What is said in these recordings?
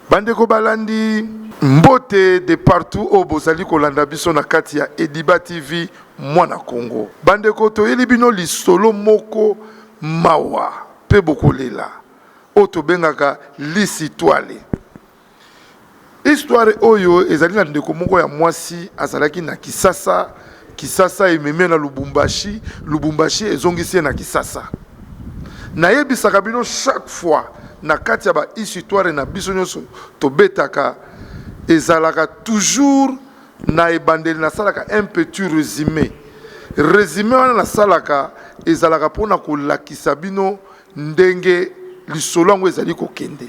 Bandeko balandi, mbote de partout oyo bozali kolanda biso na kati ya Ediba TV Mwana Kongo. Bandeko, toyeli bino lisolo moko mawa pe bokolela oyo tobengaka lisitwale. Histoire oyo ezali na ndeko moko ya mwasi azalaki na Kisasa. Kisasa ememi ye na Lubumbashi, Lubumbashi ezongisi ye na Kisasa. Nayebisaka bino chaque fois na kati ya ba histoire na biso nyonso tobetaka ezalaka toujours na ebandeli nasalaka un petit resume. Resume wana nasalaka ezalaka mpo na kolakisa bino ndenge lisolo yango ezali kokende.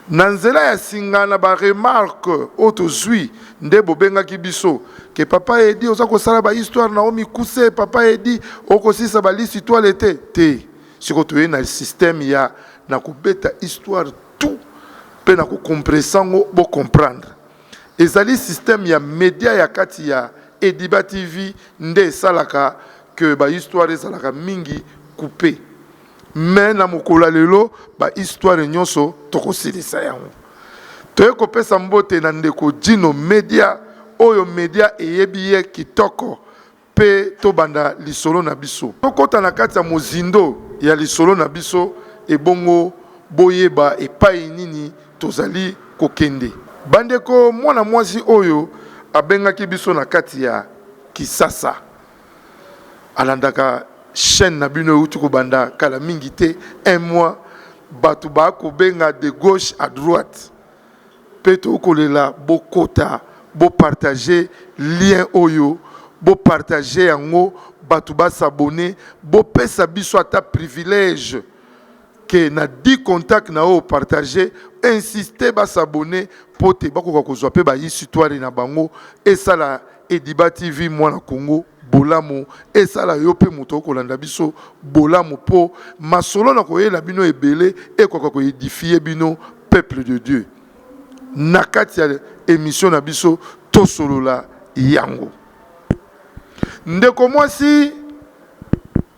Na nzela ya singa na ba remarques oyo tozui nde bobengaki biso que papa Eddy oza kosala ba histoire na yo mikuse, papa Eddy okosilisa ba lisi toile te? Te! Sikoyo toye na système ya na kobeta histoire tout mpe na ko compresse yango bo comprendre. Ezali système ya media ya kati ya Eddyba TV nde esalaka que ba histoire ezalaka mingi coupes. Mais na mokolo ya lelo ba histoire nyonso tokosilisa yango. Toye kopesa mbote na ndeko Djino Media oyo media eyebi ye kitoko pe tobanda lisolo na biso. Tokota na kati ya mozindo ya lisolo na biso ebongo boyeba epayi nini tozali kokende. Bandeko, mwana mwasi oyo abengaki biso na kati ya kisasa. alandaka chaine na bino euti kobanda kala mingi te un mois bato bakobenga de gauche à droite mpe tokolela bokota bopartage lien oyo bopartage yango bato basabone bopesa biso ata privilège que na 10 contact na yo partager insister ba s'abonner pote bakoka kozwa pe ba histoire na bango esala ediba TV mwana Congo bolamu esala yo pe moto okolanda biso bolamu po masolo na koyela bino ebele ekoka ko edifier bino peuple de Dieu na kati ya emission na biso tosolola yango ndeko mwasi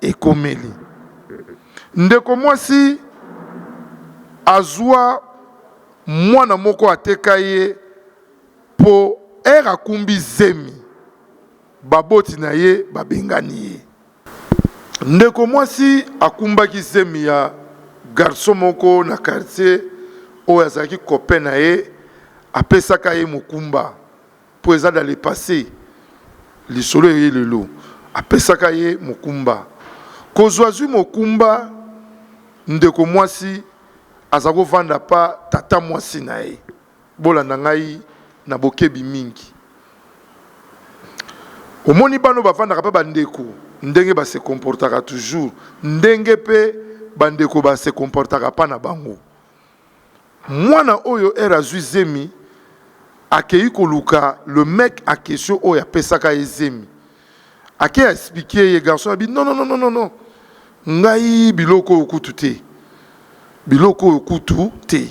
ekomeli ndeko mwasi azua mwana moko ateka ye po heure akumbi zemi baboti na ye babengani ye. Ndeko mwasi akumbaki zemi ya garçon moko na quartier oyo azalaki copain na ye apesaka ye mokumba. Po eza dans le passe. Lisolo eye lelo. Apesaka ye mokumba. Kozua zui mokumba ndeko mwasi azako vanda pa tata mwasi na ye. Bolanda ngai na bokebi mingi. Omoni bana oyo bavandaka pa ba ndeko ndenge ba se comportaka toujours ndenge pe ba ndeko ba se comportaka pa na bango. Mwana oyo heure azui zemi akeyi koluka le mec en question oyo apesaka ye zemi ake expliquer ye garçon alobi nononononono ngai biloko oyo kutu te biloko oyo kutu te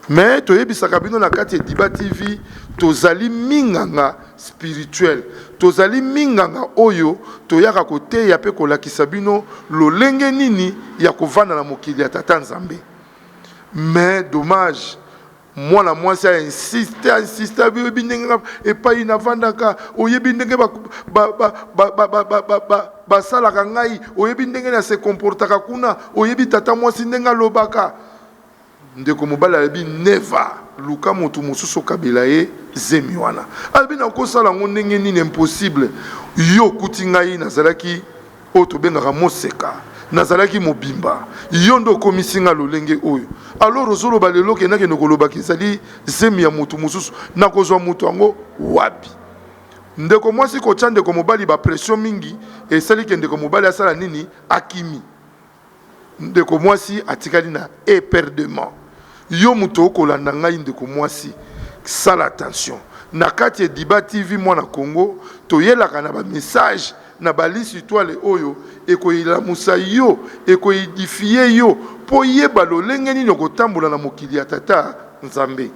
mais toyebisaka bino na kati ediba TV tozali minganga spirituel tozali minganga oyo toyaka koteya pe kolakisa bino lolenge nini ya kovanda na mokili ya tata nzambe Mais dommage mwana mwasi a insiste a insiste abi oyebi ndenge nga epayi na vandaka oyebi ndenge ba ba ba ba ba ba ba ba ba basalaka ngai oyebi ndenge na se comportaka kuna oyebi tata mwasi ndenge alobaka ndeko mobali alobi never luka motu mosusu okabela ye zemi wana alobi nakosala yango ndenge nini impossible yo okuti ngai nazalaki oyo tobengaka moseka nazalaki mobimba yo nde okomisi nga lolenge oyo alors ozoloba lelo ke nakende kolobaka ezali zemi ya motu mosusu nakozwa motu yango wapi ndeko mwasi kotya ndeko mobali bapression mingi esali ke ndeko mobali asala nini akimi Ndeko mwasi atikali na eperdement. Yo moto okolanda ngai ndeko mwasi sala attention na kati ya Diba TV mwana Congo toyelaka na ba message na balisi etoile oyo ekoelamusa yo eko edifier yo po oyeba lolenge nini okotambola na mokili ya tata Nzambe.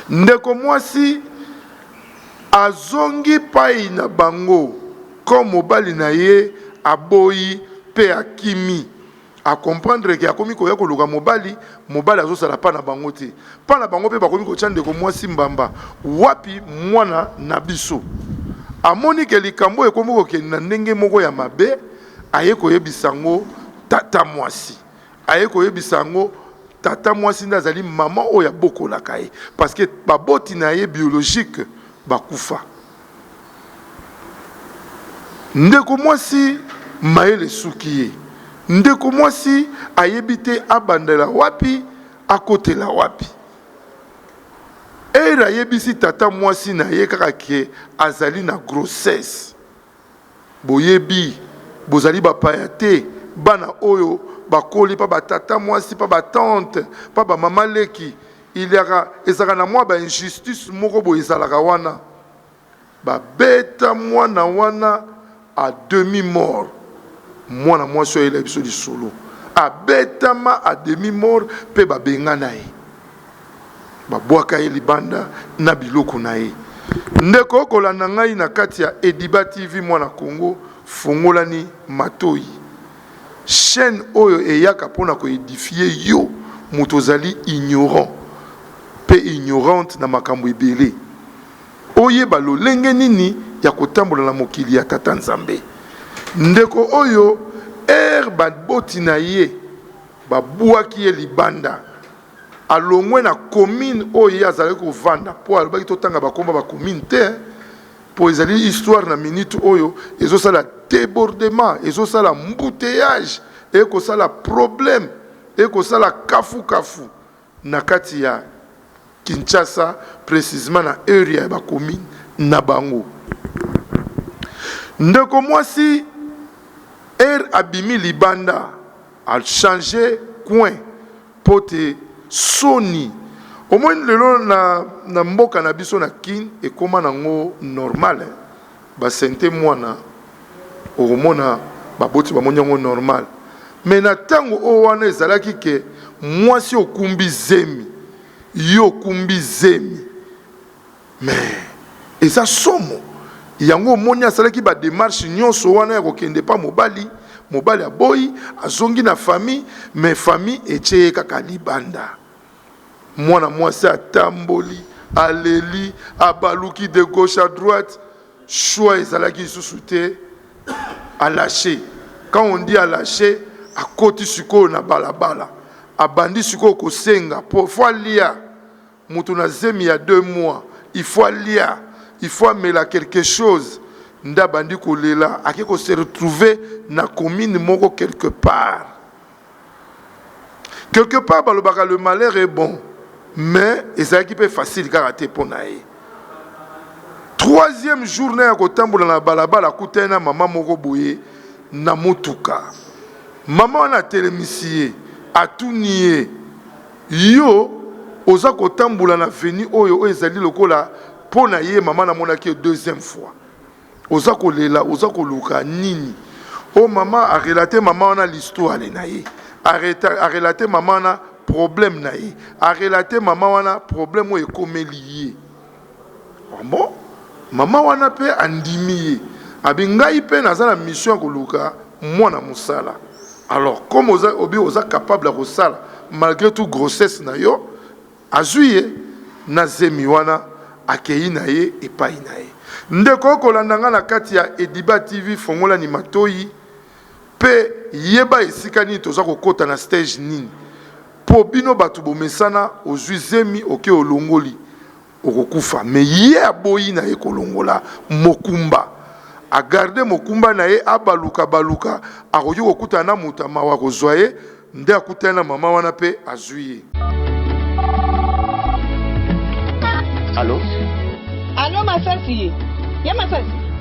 Ndeko mwasi azongi payi na bango comme mobali na ye aboyi pe akimi a comprendre ke akomi koya koluka mobali, mobali azosala pa na bango te pa na bango pe bakomi kotia ndeko mwasi mbamba wapi mwana na biso amoni ke likambo oyo ekomi kokende na ndenge moko ya mabe aye koyebisa yango tata mwasi. Aye koyebisa yango tata mwasi nde azali maman oyo abokolaka ye parce que baboti na ye biologique bakufa. Ndeko mwasi mayele esuki ye. Ndeko mwasi ayebi te abandela wapi akotela wapi. Heure ayebisi tata mwasi na ye kaka que azali na grossesse. Boyebi, bozali bapaya te, bana oyo bakoli pa ba tata mwasi, pa ba tante, pa ba mama leki. Il ya ka, ezalaka na mwa ba injustices moko boye ezalaka wana. Babeta mwana wana à demi mort. Mwana mwasi oyo ayelaki biso lisolo, abetama à demi mort pe babengana ye. Babwaka ye libanda na biloko na ye. Ndeko oko landa ngai na kati ya Ediba TV mwana Kongo fongolani matoyi. Chaine oyo eyaka pona ko edifie yo moto ozali ignorant pe ignorante na makambo ebele. Oyeba lolenge nini ya ko tambola na mokili ya tata Nzambe. Ndeko oyo heure ba boti na ye ba bwaki ye libanda. Alongwe na commune oyo ye azalaki kovanda po alobaki totanga ba kombo ya ba commune te po ezali histoire na minute oyo ezo sala debordement ezo sala embouteillage eko sala problème eko sala kafu kafu na kati ya Kinshasa precisement na area ya ba commune na bango. Ndeko mwasi heure abimi libanda A change coin po te soni omoni lelo na mboka na biso na kin ekoma na ngo normal ba sente muana okomona ba boti ba moni yango normal mais na tango oyo wana ezalaki ke muasi okumbi zemi yo okumbi zemi Mais eza somo. Yango omoni asalaki ba demarches nionso wana ya kokende epa mobali, mobali aboyi, azongi na famille mais famille etie ye kaka libanda. Mwana mwasi atamboli, aleli, abaluki de gauche à droite, choix ezalaki lisusu te, a lacher. Quand on dit a lacher, akoti sikoyo na balabala, abandi sikoyo kosenga po faut alia. Mutu na zemi ya deux mois il faut alia il faut amela quelques choses nde abandi ko lela ake ko se retrouve na commune moko quelques part quelques part balobaka le malheur est bon mais ezalaki pe facile kaka te po na ye troisième jour na ya ko tambola na balabala akutani na mama moko boye na mutuka mama wana atelemisi ye atuni ye Yo oza kotambula na veni oyo oyo ezali lokola pona ye mama na monaki yo deuxième fois oza kolela oza koluka nini oh mama a relate mama wana l'histoire na ye a relate mama wana problème na ye a relate mama wana problème oyo ekomeli ye. Ah bon? Mama wana pe andimi ye? Abi ngai pe naza na mission ya koluka mwana musala alors comme oza obi oza capable ya kosala malgre tout grossesse na yo azui ye na zemi wana akeyi na ye epayi na ye ndeko okolanda nga na kati ya ediba TV fongola ni matoyi pe yeba esika nini toza kokota na stage nini Po bino batu bomesana ozui zemi oke olongoli okokufa mais ye aboyi naye kolongola mokumba a garde mokumba naye abaluka baluka akoki kokutana na moto ya mawa akozua ye nde akutani na maman wana pe azui ye. Allo. Allo masasi ye masasi.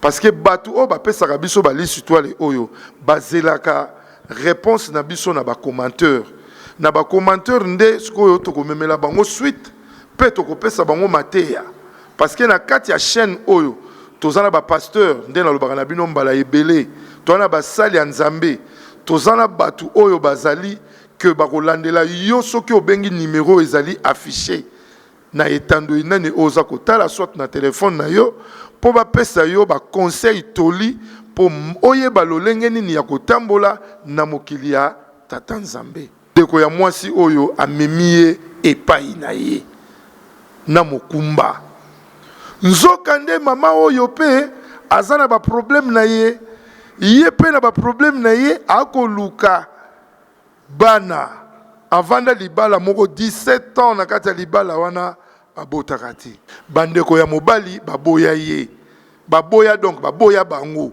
Parce que batu oyo bapesaka biso ba liste toile oyo bazelaka reponse na biso na ba commenteur. Na ba commenteur nde sikoyo tokomemela bango suite pe tokopesa bango mateya. Parce que na kati ya chaine oyo toza na ba pasteur nde nalobaka na bino mbala ebele. Toza na basali ya Nzambe. Toza na batu oyo bazali que bakolandela yo soki obengi numero ezali afficher. na etando inene oyo oza kotala soit na telefone na yo mpo bapesa yo baconseil toli mpo oyeba lolenge nini ya kotambola na mokili ya tata nzambe ndeko ya mwasi oyo amemi ye epai na ye na mokumba nzoka nde mama oyo mpe aza na baproblème na ye ye mpe na baproblème na ye akoluka Bana, avanda libala moko 17 ans na kati ya libala wana babotaka te. Bandeko ya mobali baboya ye, baboya donc baboya bango,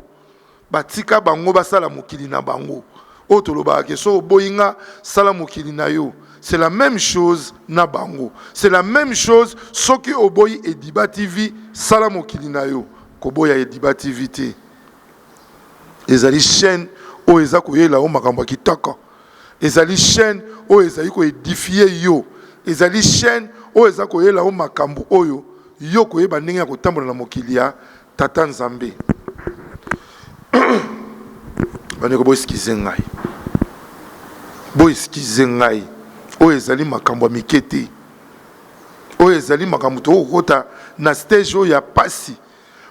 batika bango basala mokili na bango. Oyo tolobaka ke soki oboyi nga sala mokili na yo, c'est la meme chose na bango. C'est la meme chose soki oboyi Ediba TV sala mokili na yo, koboya Ediba TV te. ezali chaîne oyo eza koyela yo makambo ya kitoko ezali chaîne oyo ezali ko edifie yo ezali chaîne oyo eza koyela yo makambo oyo yo koyeba ndenge ya kotambola na mokili ya tata nzambe bandeko boeskize ngai boeskize ngai oyo ezali makambo ya mike te oyo ezali makambo tokokokota na stage oyo ya pasi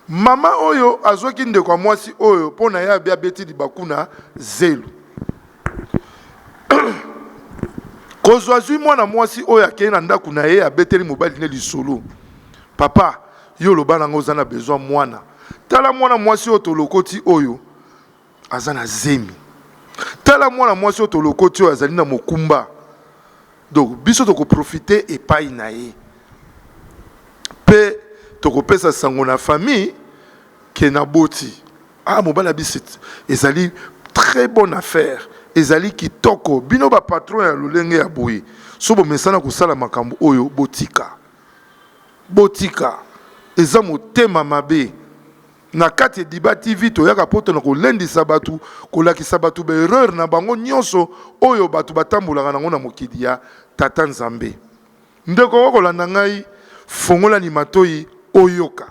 Mama oyo azwaki ndeko ya mwasi oyo mpo na yabe abeti libaku na zelo. Kozo azwi mwana mwasi oyo akei na ndako na ye abeteli mobali ne lisolo. Papa, yo oloba na nga oza na besoin mwana. Tala mwana mwasi oyo tolokoti oyo. Aza na zemi. Tala mwana mwasi oyo tolokoti oyo azali na mokumba. Donc biso toko profiter epai na ye. Pe tokopesa sango na famille que naboti. Ah mobali abisi ezali très bonne affaire. Ezali kitoko. Bino ba patron ya lolenge ya boye soki bomesana kosala makambo oyo botika. Botika. Eza motema mabe. Na kati ya Diba TV, toyaka poto na kolendisa batu, kolakisa batu ba erreurs na bango nionso oyo batu batambolaka nango na mokili ya Tata Nzambe. Ndeko okoki kolanda ngai? Fongola ni matoyi oyoka.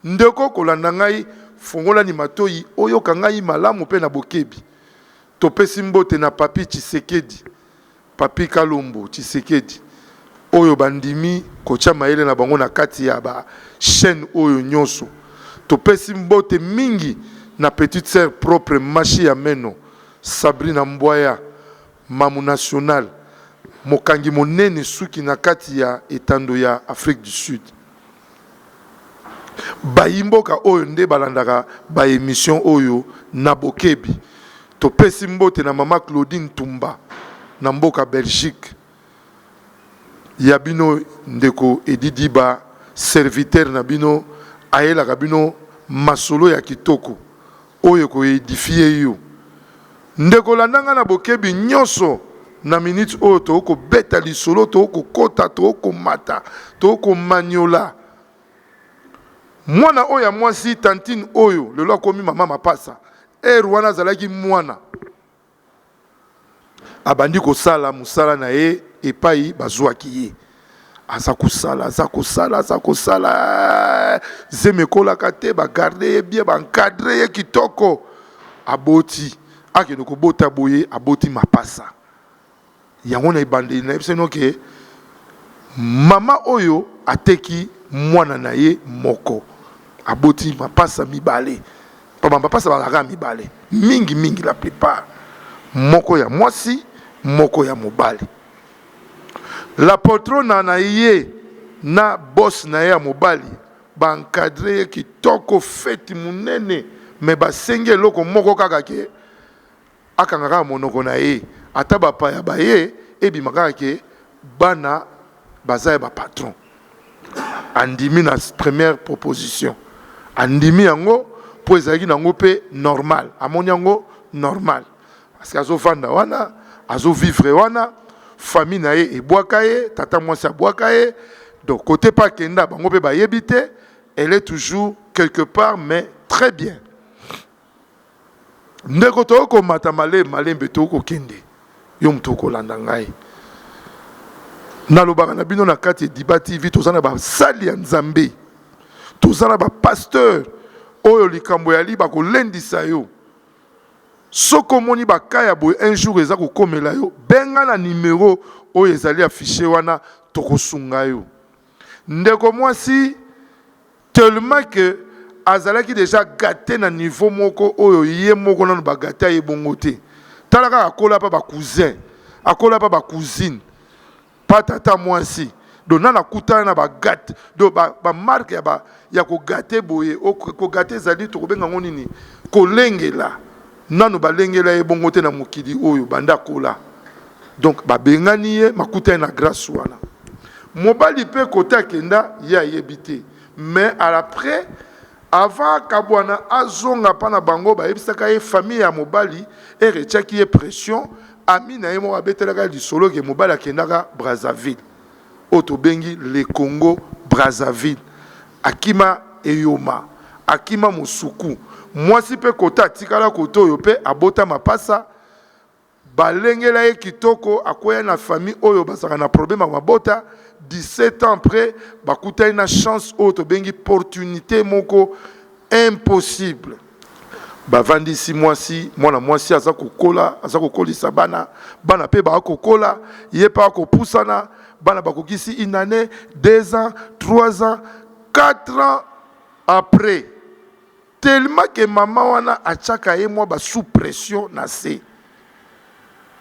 Ndeko okoki kolanda ngai? Fongola ni matoyi oyoka ngai malamu pe na bokebi. Topesi mbote na Papy Tshisekedi, Papy Kalombo Tshisekedi oyo ba ndimi ko tia mayele na bango na kati ya ba chaines oyo nionso. To pesi mbote mingi na petite sœur propre mashi ya meno Sabrina Mbwaya Mamu National mokangi monene suki na kati ya etando ya Afrique du Sud. Bayi mboka oyo nde balandaka ba emissions oyo na bokebi. Topesi mbote na mama Claudine Tumba na mboka Belgique. Ya bino ndeko Eddy Diba serviteur na bino ayelaka bino masolo ya kitoko. Oyo eko edifier yo. Ndeko landa ngai na bokebi nionso na minute oyo tokoki kobeta lisolo tokoki kokota tokoki komata tokoki komaniola mwana oyo ya mwasi tantine oyo lelo akomi mama mapasa heure wana azalaki mwana Abandi kosala mosala na ye epai bazwaki ye. Aza kosala, aza kosala, aza kosala, eh, zemi ekolaka te, bagarde ye bien, bankadre ye kitoko. Aboti, akende kobota boye, aboti mapasa. Yango na ebandeli nayebisaki bino ke mama oyo ateki mwana na ye moko aboti mapasa mibale po ba mapasa bazalaka kaka mibale mingi mingi la plupart moko ya mwasi moko ya mobali la poltrona na ye na boss na ye ya mobali ba encadre ye kitoko feti munene mais basengi eloko moko kaka ke Akanga kaka monoko na ye ata ba paya baye ebima kaka ke bana baza ya ba patron andimi na première proposition andimi yango po ezalaki na ngo pe normal amoni yango normal parce que azo vanda wana azo vivre wana famille na ye ebwaka ye tata mwasi abwaka ye donc kote pe akenda bango pe bayebi te elle est toujours quelque part mais très bien. Ndeko tokoki komata malembe malembe, tokoki kokende, yo moto okolanda ngai. Nalobaka na bino na kati ya Diba TV, toza na basali ya Nzambe, toza na bapasteur oyo likambo yali bakolendisa yo. Soki omoni baka ya boye un jour eza kokomela yo, benga na numero oyo ezali affiche wana, tokosunga yo. Ndeko mwasi tellement que azalaki dejà gate na niveau moko oyo ye moko nanu ba gata ye bongo te tala kaka akola pa ba cousin akola pa ba cousine pa tata mwasi donc nanu akutana na ba gate donc ba, ba marque ya, ba, ya kogate boye kogate ezali tokobenga yango nini kolengela Nanu balengela ye bongo te na mokili oyo banda akola donc babengani ye makutani na grace wana mobali pe cote akenda ye ayebi te mais à la près avant akabuana azonga pa na bango bayebisaka ye famille ya mobali ere etiaki ye pression ami na ye moko abetelaka ye lisolo ke mobali akendaka Brazzaville oyo tobengi le Congo Brazzaville akima eyoma akima mosuku mwasi pe kota atikala kote oyo pe abota mapasa balengela ye kitoko akweya na famille oyo bazalaka na problème ya mabota 17 ans après bakutani na chance oyo tobengi portunite moko impossible bavandisi mwasi mwana mwasi aza kokola aza kokolisa bana bana mpe baakokola ye mpe akopusana bana bakokisi une année deux ans trois ans quatre ans après tellement ke mama wana atiaka ye mwa basous pression na se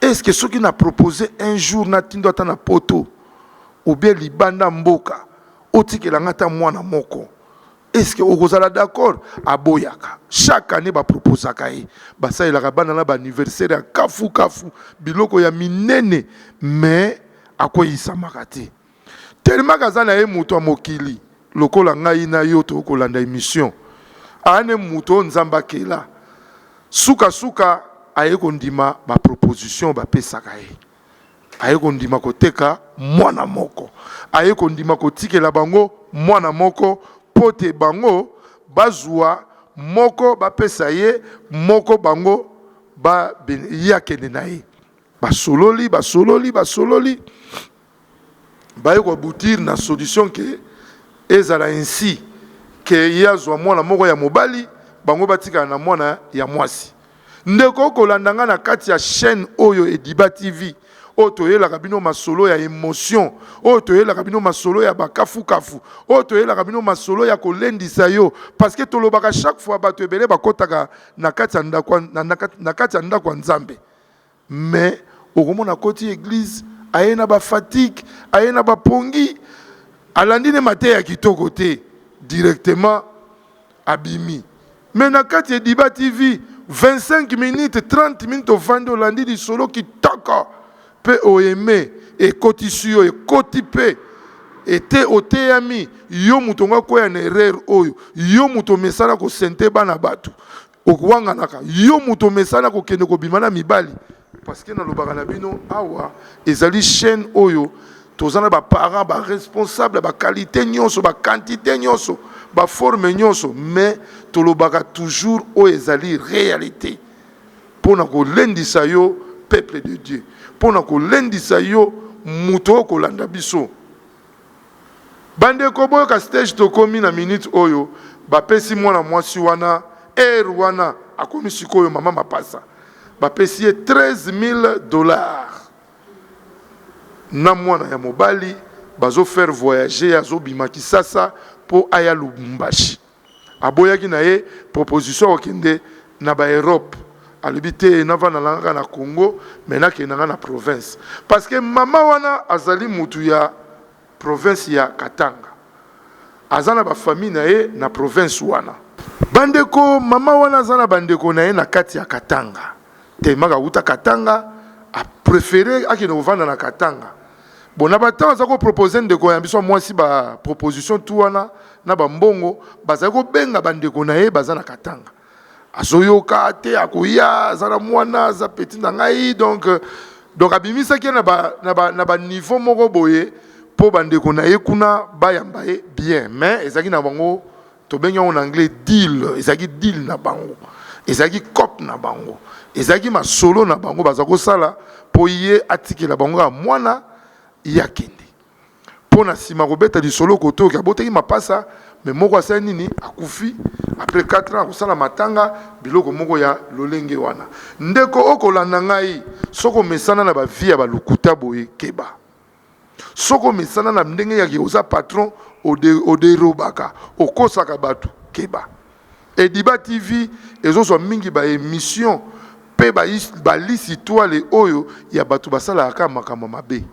est ce que soki na propose un jour natindo ata na poto obie libanda mboka otikela nga ata mwana moko est ce que okozala d'accord aboyaka chaque année baproposaka ye basalelaka bana na baanniversaire ya kafu kafu biloko ya minene mais akweyisamaka te tellement kaza na ye moto ya mokili lokola ngai na yo tokoki kolanda émission ane moto oyo nzambe akela sukasuka aye kondima baproposition bapesaka ye Aye kondima koteka mwana moko. Aye kondima kotikela bango mwana moko, mpo te bango bazua moko, bapesa ye moko, bango ba, ye akende na ye. Basololi, basololi, basololi, baye ko aboutir na solution que ezala ainsi que ye azua mwana moko ya mobali, bango batikala na mwana ya mwasi. Ndeko oko landa nga na kati ya chaine oyo ediba TV oyo toyelaka bino masolo ya emotion oyo toyelaka bino masolo ya ba kafu kafu oyo toyelaka bino masolo ya ko lendisa yo parce que tolobaka chaque fois batu ebele bakotaka na kati ya ndaku na kati ya ndaku ya nzambe Mais okomona akoti eglise aye na ba fatigue aye na ba pongi alandi ne mateya kitoko te directement abimi mais na kati ya diba TV 25 minutes 30 minutes ovandi olandi lisolo kitoko pe o aime ekotisi yo ekoti pe ete oteyami yo moto nga kweya na erreur oyo yo moto omesana ko sente bana batu okowanganaka yo moto omesana kokende kobima na mibali parceke nalobaka na bino awa ezali chaîne oyo toza na baparent baresponsable ya bakalite nyonso bakantite nyonso baforme nyonso mais tolobaka toujours oyo ezali réalité mpo na kolendisa yo peuple de dieu mpo na kolendisa yo moto oyo kolanda biso Bandeko boyoka stage tokomi na minute oyo bapesi mwana mwasi wana heure wana akomi sikoyo mama mapasa bapesi ye 13000 dollars na mwana ya mobali bazo faire voyager azobima kisasa po aya lubumbashi. Aboyaki na ye proposition ya kokende na ba Europe alobi te navanda nanga kaka na Congo mais nakende nanga na province parce que maman wana azali mutu ya province ya Katanga aza na ba famille na ye na province wana. Ba ndeko maman wana aza na ba ndeko na ye na kati ya Katanga tellement awuta Katanga a prefere akende kovanda na Katanga. Bon na ba temps aza ko proposer ndeko ya biso mwasi ba proposition tout wana na ba mbongo bazali kobenga bandeko na ye baza na Katanga azoyoka te akoya aza na mwana aza petit na ngai donc euh, donc abimisaki ye na ba, na ba, na ba niveau moko boye mpo bandeko na ye kuna bayamba ye bien mais ezalaki na bango Tobengi yango na anglais deal, ezalaki deal na bango, ezalaki cop na bango, ezalaki masolo na bango baza kosala mpo ye atikela bango kaka mwana ye akende mpo na nsima kobeta lisolo kote oke abotaki mapasa me moko asali nini akufi apres 4 ans akosala matanga biloko moko ya lolenge wana ndeko okolanda ngai soki omesana na bavie ya balokuta boye keba Soki omesana na ndenge ya ke oza patron ode oderobaka okosaka batu keba. Ediba TV ezozwa mingi ba emission pe ba is ba list itwale oyo ya batu basalaka kaka makambo ya mabe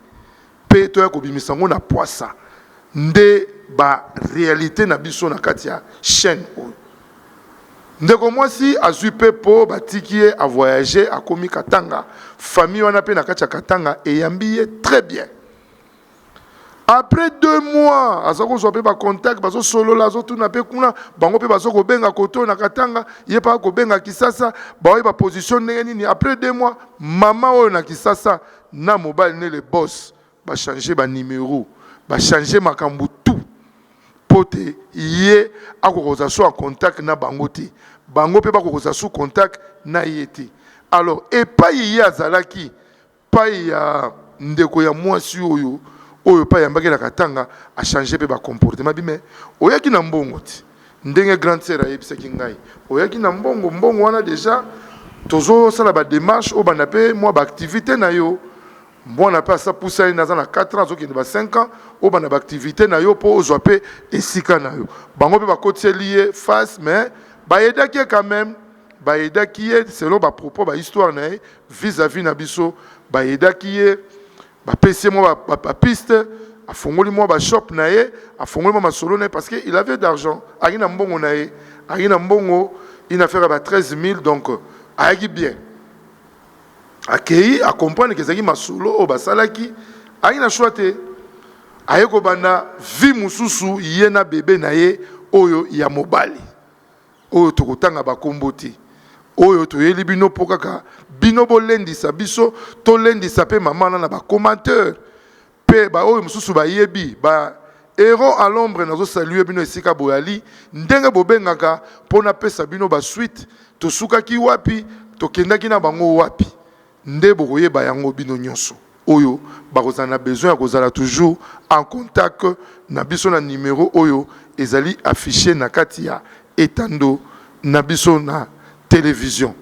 pe toya kobimisa yango na pwasa nde ba realite na biso na kati ya chaine oyo. Ndeko mwasi azui pe po batiki ye a voyager akomi Katanga famille wana pe nakati ya Katanga eyambi ye très bien après deux mois aza kozua pe ba contact bazo solola azo tuna pe kuna bango pe bazo kobenga kote oyo na Katanga ye pe akobenga Kisasa baoyeba position ndenge nini après deux mois maman oyo na Kisasa na mobali ne le boss ba changer ba numero ba changer makambu tout po te ye akokoza su en contact na bango te bango pe bakokoza su contact na ye te alors epayi ye azalaki payi ya ndeko ya muasi oyo oyo pa yambaki na katanga a changer pe ba comportement bi mais oyaki na mbongo te ndenge grande sœur ayebisaki ngai oyaki na mbongo mbongo wana dejà tozo sala ba demarche obanda pe mua ba activite na yo Mwana pe asi apusani naza na 4 ans azokende ba 5 ans obanda ba activite nayo po ozua pe esika nayo bango pe bakotiseli ye face mais ba aidaki ye quand meme ba aidaki ye selon ba propos ba histoire naye vis à vis na biso ba aidaki ye ba pesi ye mwa ba piste afongoli mwa ba shop naye afongoli mwa masolo naye parce que il avait d'argent ayaki na mbongo naye ayaki na mbongo une affaire ya ba 13000 donc ayaki bien Akeyi a comprendre que ezalaki masolo oyo basalaki, aye na choix te. Aye kobanda vie mosusu ye na bebe na ye oyo ya mobali oyo tokotanga ba kombo te. Oyo toyeli bino po kaka bino bolendisa biso, tolendisa pe mama wana na ba commentaires. Pe ba oyo mosusu ba yebi ba Heros a l'ombre nazo saluer bino esika boyali ndenge bobengaka po na pesa bino ba suite tosukaki wapi tokendaki na bango wapi nde bokoyeba yango bino nionso oyo bakozala na besoin ya kozala toujours en contact na biso na numero oyo ezali afficher na kati ya etando na biso na television.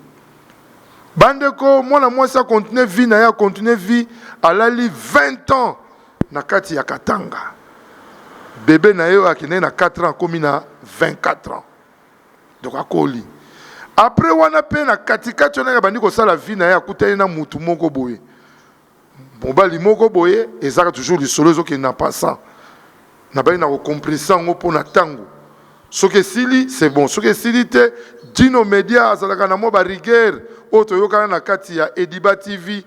Bandeko, mwana mwasi a continuer vie na ye, a continuer vie, alali 20 ans na kati ya Katanga. Bebe na ye oyo akendaki na 4 ans akomi na 24 ans, donc akoli. Après wana pe na katikati wana abandi kosala vie na ye, akutani na mutu moko boye Mobali moko boye ezaka toujours lisolo ezo kende na passant. Na bali na ko compressa yango mpo na tango. Soki esili c'est bon, soki esili te Djino Media azalaka na mwa ba rigueur oyo toyokana na kati ya Ediba TV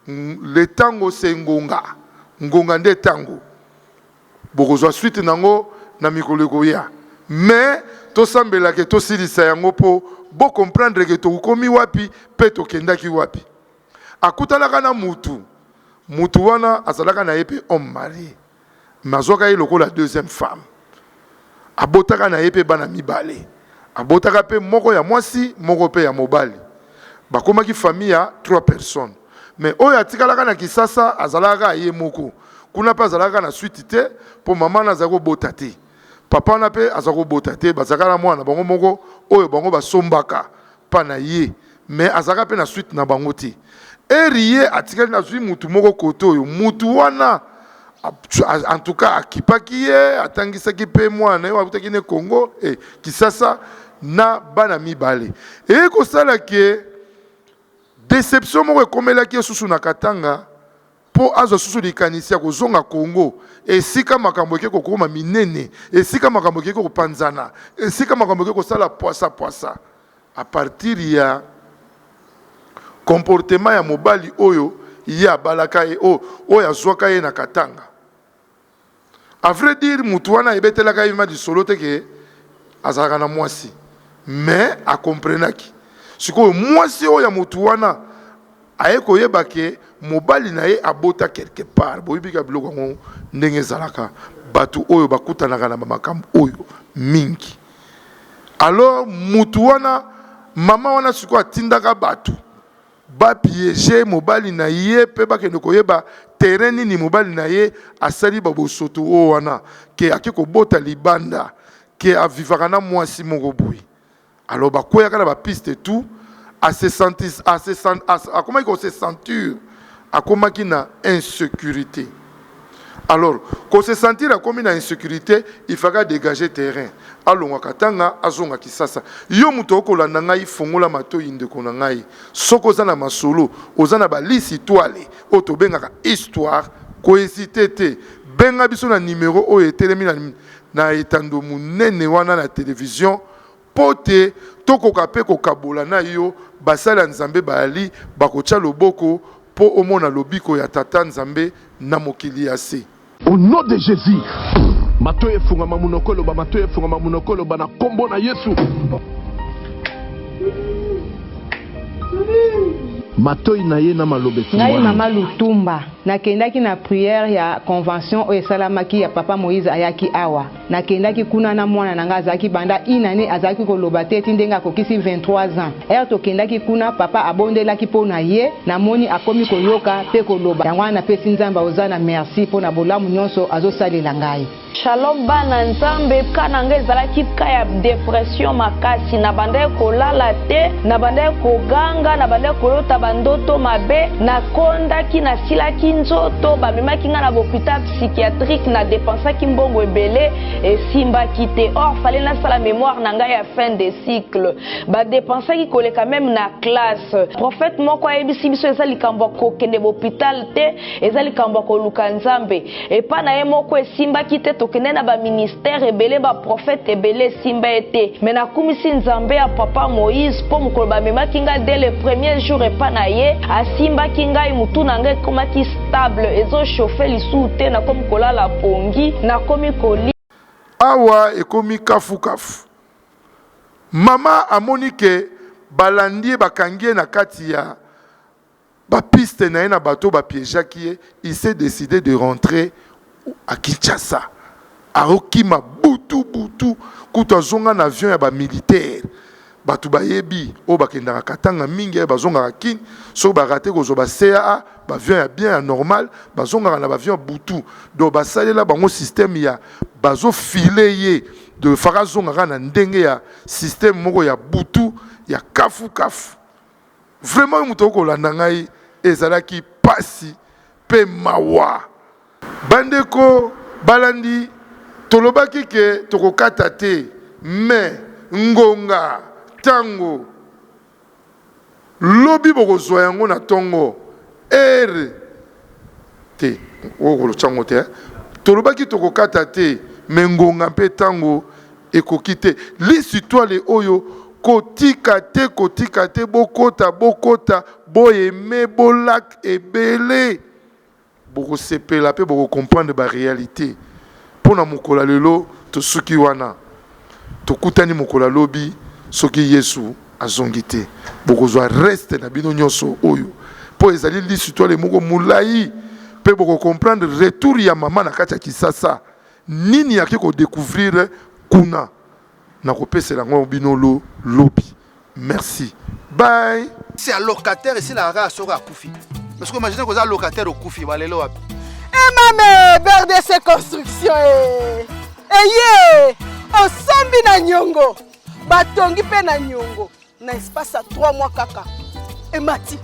le tango c'est ngonga. Ngonga nde tango. Bokozwa suite na yango na mikolo ekoya. Mais tosambela que tosilisa yango mpo bo comprendre que tokomi wapi mpe tokendaki wapi. akutanaka na mutu mutu wana azalaka na ye pe homme marie mais azwaka ye lokola deuxième femme abotaka na ye pe bana mibale abotaka pe moko ya mwasi moko pe ya mobali bakomaki famille ya trois personnes mais oyo atikalaka na kisasa azalaka kaka ye moko kuna pe azalaka na suite te po mama wana azali kobota te papa wana pe aza kobota te bazalaka na mwana na bango moko oyo bango basombaka pa na ye mais azalaka pe na suite na bango te heure ye atikali na zui mutu moko kote oyo mutu wana en tout cas akipaki ye atangisaki pe mwana na ye akutaki ne Congo eh, Kisasa na bana mibale eye kosala ke deception moko ekomelaki ye susu na Katanga mpo azwa susu likanisi ya kozonga Congo, esika makambo eke kokoma minene, esika makambo ekeke kopanzana, esika makambo eke kosala pwasa pwasa à partir ya comportement ya mobali oyo ye abalaka ye, oyo azwaka ye na Katanga. A vrai dire mutu wana ayebetelaka Eva lisolo te que azalaka na mwasi mais a comprenaki. Sikoyo mwasi oyo ya mutu wana aye koyeba que mobali na ye abota quelque part. Boyebi kaka biloko yango ndenge ezalaka batu oyo bakutanaka na ba makambo oyo mingi. Alors mutu wana maman wana sikoyo atindaka batu. Ba pieger mobali na ye pe bakende koyeba terrain nini mobali na ye asali ba bosoto oyo wana que ake kobota libanda que a vivaka na muasi moko boye alors ba kweyaka na ba piste tout a se sentis a se akomaki ko se sentur akomaki na insecurite. Alors, ko se sentir akomi na insecurite, il faka degager terrain. Alongwa Katanga, azonga Kisasa. Yo moto okolanda ngai, fongola matoyi ndeko na ngai. Soki oza na masolo, oza na ba lisi itwale, oyo tobengaka histoire, ko hesiter te. Benga biso na numero oyo etelemi na na etando monene wana na television, Mpo te tokoka mpe kokabola na yo, basali ya Nzambe bayali bakotya loboko mpo omona lobiko ya Tata Nzambe na mokili ya se. Au nom de Jesus matoyi efungama munoko eloba matoyi efungama munoko eloba na kombo na yesu matoyi na ye na maloba efungwami. Ngai mama Lutumba, nakendaki na prière ya convention oyo esalamaki ya papa Moïse ayaki awa. Nakendaki kuna na mwana na ngai azalaki banda une annee azalaki koloba te ti ndenge akokisi 23 ans. Heure tokendaki kuna papa abondelaki mpo na ye, namoni akomi koyoka mpe koloba yango wana napesi Nzambe ya Hosanna merci mpo na bolamu nionso azosalela ngai. Shalom bana nzambe cas na nga ezalaki cas ya depression makasi na bandaki kolala te na bandaki koganga na bandaki kolota ba ndoto mabe na kondaki na silaki nzoto ba memaki nga na ba hopital psychiatrique na dépensaki mbongo ebele esimbaki te or fale nasala mémoire na ngai ya fin de cycle badépensaki koleka meme na classe prophète moko ayebisi biso eza likambo ya kokende bopital te eza likambo ya koluka nzambe epa na ye moko esimbaki te tokende na baministère ebele baprophète ebele esimba ye te me nakumisi nzambe ya papa moïse mpo mokolo bamemaki ngai de le premier jour epa na ye asimbaki ngai motu na ngai ekomaki table ezo chauffe lisusu te nakomi kolala pongi nakomi koli awa ekomi kafukafu mama amoni ke balandi ye bakangi ye na kati ya bapiste na ye na bato bapiegeaki ye il s'est décide de rentrer à Kinshasa aokima butu butu kutu azonga na avion ya bamilitaire bato bayebi oyo bakendaka katanga mingi aye bazongaka kin soki barate kozwa ba caa baavion ya bien ya normal bazongaka na baavion ya butu donc basalela bango systeme ya bazofile ye de faka azongaka na ndenge ya systeme moko ya butu ya kafukafu Vraiment yo mutu okoki kolanda ngai ezalaki pasi pe mawa. Bandeko balandi tolobaki ke tokokata te mais ngonga tango lobi bokozua yango na tongo heure. Te, okotya yango te. Tolobaki tokokata te, mais ngonga mpe tango ekoki te. Lisi toile oyo, kotika te, kotika te, bokota, bokota, bo aimer, bo lak ebele. Bokosepela mpe boko comprendre ba realites. Mpo na mokolo ya lelo, tosuki wana. Tokutani mokolo ya lobi soki Yesu azongi te. Bokozwa reste na bino nionso oyo po ezali lisitwale moko mulayi pe boko comprendre retour ya mama na kati ya kisasa nini ake ko decouvrir kuna. Nakopesela yango bino lobi. Merci bye. C'est à locataire ici la rara soko akufi. Mais ce que imagine que ça locataire okufi ba lelo wapi? Eh mame BRDC construction eh. Eye osombi na nyongo. Batongi pe na nyongo na espace ya 3 mois kaka. Emati.